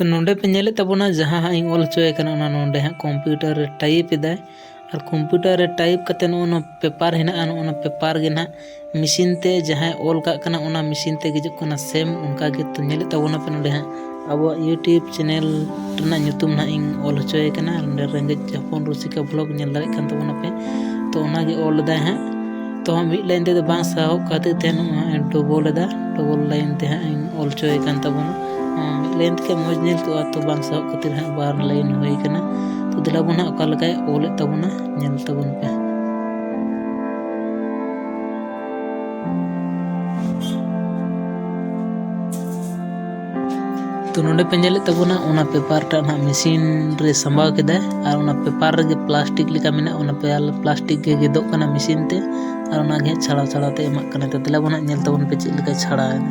ᱛᱚ ᱱᱚᱰᱮ ᱯᱮ ᱧᱮᱞᱮᱫ ᱛᱟᱵᱚᱱᱟ ᱡᱟᱦᱟᱸ ᱦᱟᱸᱜ ᱤᱧ ᱚᱞ ᱦᱚᱪᱚᱭᱮ ᱠᱟᱱᱟ ᱚᱱᱟ ᱱᱚᱰᱮ ᱦᱟᱸᱜ ᱠᱚᱢᱯᱤᱭᱩᱴᱟᱨ ᱨᱮ ᱴᱟᱭᱤᱯ ᱮᱫᱟᱭ ᱟᱨ ᱠᱚᱢᱯᱤᱭᱩᱴᱟᱨ ᱨᱮ ᱴᱟᱭᱤᱯ ᱠᱟᱛᱮ ᱱᱚᱜᱼᱚ ᱱᱚᱣᱟ ᱯᱮᱯᱟᱨ ᱦᱮᱱᱟᱜᱼᱟ ᱱᱚᱜᱼᱚ ᱱᱚᱣᱟ ᱯᱮᱯᱟᱨ ᱜᱮ ᱱᱟᱦᱟᱜ ᱢᱮᱥᱤᱱ ᱛᱮ ᱡᱟᱦᱟᱸᱭ ᱚᱞ ᱠᱟᱜ ᱠᱟᱱᱟ ᱚᱱᱟ ᱢᱮᱥᱤᱱ ᱛᱮ ᱦᱤᱡᱩᱜ ᱠᱟᱱᱟ ᱥᱮᱢ ᱚᱱᱠᱟ ᱜᱮ ᱛᱚ ᱧᱮᱞᱮᱫ ᱛᱟᱵᱚᱱᱟ ᱯᱮ ᱱᱚᱰᱮ ᱦᱟᱸᱜ ᱟᱵᱚᱣᱟᱜ ᱤᱭᱩᱴᱤᱭᱩᱵᱽ ᱪᱮᱱᱮᱞ ᱨᱮᱱᱟᱜ ᱧᱩᱛᱩᱢ ᱱᱟᱦᱟᱜ ᱤᱧ ᱚᱞ ᱦᱚᱪᱚᱭᱮ ᱠᱟᱱᱟ ᱟᱨ ᱱᱚᱰᱮ ᱨᱮᱸᱜᱮᱡ ᱦᱚᱯᱚᱱ ᱨᱩᱥᱤᱠᱟ ᱵᱷᱞᱚᱜᱽ ᱧᱮᱞ ᱫᱟᱲᱮᱭᱟᱜ ᱠᱟᱱ ᱛᱟᱵᱚᱱᱟᱯᱮ ᱛᱚ ᱚᱱᱟᱜᱮ ᱚᱞ ᱮᱫᱟᱭ ᱦᱟᱸᱜ ᱛᱚ ᱢᱤᱫ ᱞᱟᱭᱤᱱ ᱛᱮᱫᱚ ᱵᱟᱝ ᱥᱟᱦᱚᱵ ᱠᱷᱟᱹᱛᱤᱨ ᱛᱮ ᱱᱚᱣᱟ ᱰᱚᱵᱚᱞ ᱮᱫᱟ ᱰᱚᱵᱚᱞ ᱞᱟᱭᱤᱱ ᱛᱮ ᱦᱟᱸᱜ ᱤᱧ ᱚᱞ ᱦᱚᱪᱚᱭᱮ ᱠᱟᱱ ᱛᱟᱵᱚᱱᱟ ᱢᱤᱫ ᱞᱟᱭᱤᱱ ᱛᱮ ᱢᱚᱡᱽ ᱧᱮᱞ ᱠᱚᱜᱼᱟ ᱛᱚ ᱵᱟᱝ ᱥᱟᱦᱚᱵ ᱠᱷᱟᱹᱛᱤᱨ ᱦᱟᱸᱜ ᱵᱟᱨ ᱞᱟᱭᱤᱱ ᱦᱩᱭ ᱠᱟᱱᱟ ᱛᱚ ᱫᱮᱞᱟ ᱵᱚᱱ ᱦᱟᱸᱜ ᱚᱠᱟ ᱞᱮᱠᱟᱭ ᱚᱞᱮᱫ ᱛᱟᱵᱚᱱᱟ ᱧᱮᱞ ᱛᱟᱵᱚᱱ ᱯᱮ ᱛᱚ ᱱᱚᱰᱮ ᱯᱮ ᱧᱮᱞᱮᱫ ᱛᱟᱵᱚᱱᱟ ᱚᱱᱟ ᱯᱮᱯᱟᱨ ᱴᱟᱜ ᱱᱟᱦᱟᱜ ᱢᱮᱥᱤᱱ ᱨᱮ ᱥᱟᱢᱵᱟᱣ ᱠᱮᱫᱟᱭ ᱟᱨ ᱚᱱᱟ ᱯᱮᱯᱟᱨ ᱨᱮᱜᱮ ᱯᱞᱟᱥᱴᱤᱠ ᱞᱮᱠᱟ ᱢᱮᱱᱟᱜᱼᱟ ᱚᱱᱟ ᱯᱞᱟᱥᱴᱤᱠ ᱜᱮ ᱜᱮᱫᱚᱜ ᱠᱟᱱᱟ ᱢᱮᱥᱤᱱ ᱛᱮ ᱟᱨ ᱚᱱᱟᱜᱮ ᱦᱟᱸᱜ ᱪᱷᱟᱲᱟᱣ ᱪᱷᱟᱲᱟᱣ ᱛᱮ ᱮᱢᱟᱜ ᱠᱟᱱᱟ ᱛᱚ ᱫᱮᱞᱟ ᱵᱚᱱ ᱦᱟᱸᱜ ᱧᱮᱞ ᱛᱟᱵᱚᱱ ᱯᱮ ᱪᱮᱫ ᱞᱮᱠᱟ ᱪᱷᱟᱲᱟᱣᱮᱱᱟ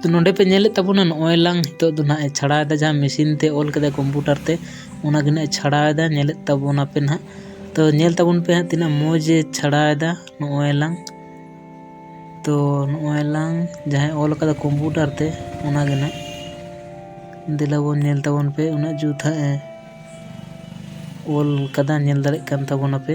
ᱛᱚ ᱱᱚᱰᱮ ᱯᱮ ᱧᱮᱞᱮᱫ ᱛᱟᱵᱚᱱᱟ ᱱᱚᱜᱼᱚᱭ ᱞᱟᱝ ᱱᱤᱛᱚᱜ ᱫᱚ ᱱᱟᱦᱟᱜ ᱮ ᱪᱷᱟᱲᱟᱣᱮᱫᱟ ᱡᱟᱦᱟᱸ ᱢᱮᱥᱤᱱ ᱛᱮ ᱚᱞ ᱠᱮᱫᱟ ᱠᱚᱢᱯᱩᱴᱟᱨ ᱛᱮ ᱚᱱᱟᱜᱮ ᱱᱟᱦᱟᱜ ᱮ ᱪᱷᱟᱲᱟᱣᱮᱫᱟ ᱧᱮᱞᱮᱫ ᱛᱟᱵᱚᱱᱟ ᱯᱮ ᱱᱟᱦᱟᱜ ᱛᱚ ᱧᱮᱞ ᱛᱟᱵᱚᱱ ᱯᱮ ᱦᱟᱸᱜ ᱛᱤᱱᱟᱹᱜ ᱢᱚᱡᱽ ᱮ ᱪᱷᱟᱲᱟᱣᱮᱫᱟ ᱱᱚᱜᱼᱚᱭ ᱞᱟᱝ ᱛᱚ ᱱᱚᱜᱼᱚᱭ ᱞᱟᱝ ᱡᱟᱦᱟᱸᱭ ᱚᱞ ᱠᱟᱫᱟ ᱠᱚᱢᱯᱩᱴᱟᱨ ᱛᱮ ᱚᱱᱟᱜᱮ ᱱᱟᱦᱟᱜ ᱫᱮᱞᱟ ᱵᱚᱱ ᱧᱮᱞ ᱛᱟᱵᱚᱱ ᱯᱮ ᱩᱱᱟᱹᱜ ᱡᱩᱛ ᱦᱟᱸᱜ ᱮ ᱚᱞ ᱠᱟᱫᱟ ᱧᱮᱞ ᱫᱟᱲᱮᱜ ᱠᱟᱱ ᱛᱟᱵᱚᱱᱟᱯᱮ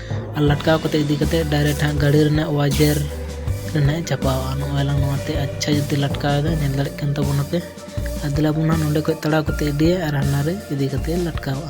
ᱟᱨ ᱞᱟᱴᱠᱟᱣ ᱠᱟᱛᱮ ᱤᱫᱤ ᱠᱟᱛᱮ ᱰᱟᱭᱨᱮᱠᱴ ᱦᱟᱸᱜ ᱜᱟᱹᱰᱤ ᱨᱮᱱᱟᱜ ᱚᱣᱟᱡᱮᱨ ᱨᱮ ᱱᱟᱦᱟᱜ ᱮ ᱪᱟᱯᱟᱣᱟ ᱱᱚᱜᱼᱚᱭ ᱞᱟᱝ ᱱᱚᱣᱟᱛᱮ ᱟᱪᱪᱷᱟ ᱡᱩᱛᱮ ᱞᱟᱴᱠᱟᱣ ᱮᱫᱟ ᱧᱮᱞ ᱫᱟᱲᱮᱭᱟᱜ ᱠᱟᱱ ᱛᱟᱵᱚᱱᱟᱯᱮ ᱟᱨ ᱫᱮᱞᱟ ᱵᱚᱱ ᱦᱟᱸᱜ ᱱᱚᱸᱰᱮ ᱠᱷᱚᱡ ᱛᱟᱲᱟᱣ ᱠᱟᱛᱮ ᱤᱫᱤᱭᱟ ᱟᱨ ᱦᱟᱱᱟ ᱨᱮ ᱤᱫᱤ ᱠᱟᱛᱮ ᱞᱟᱴᱠᱟᱣᱟ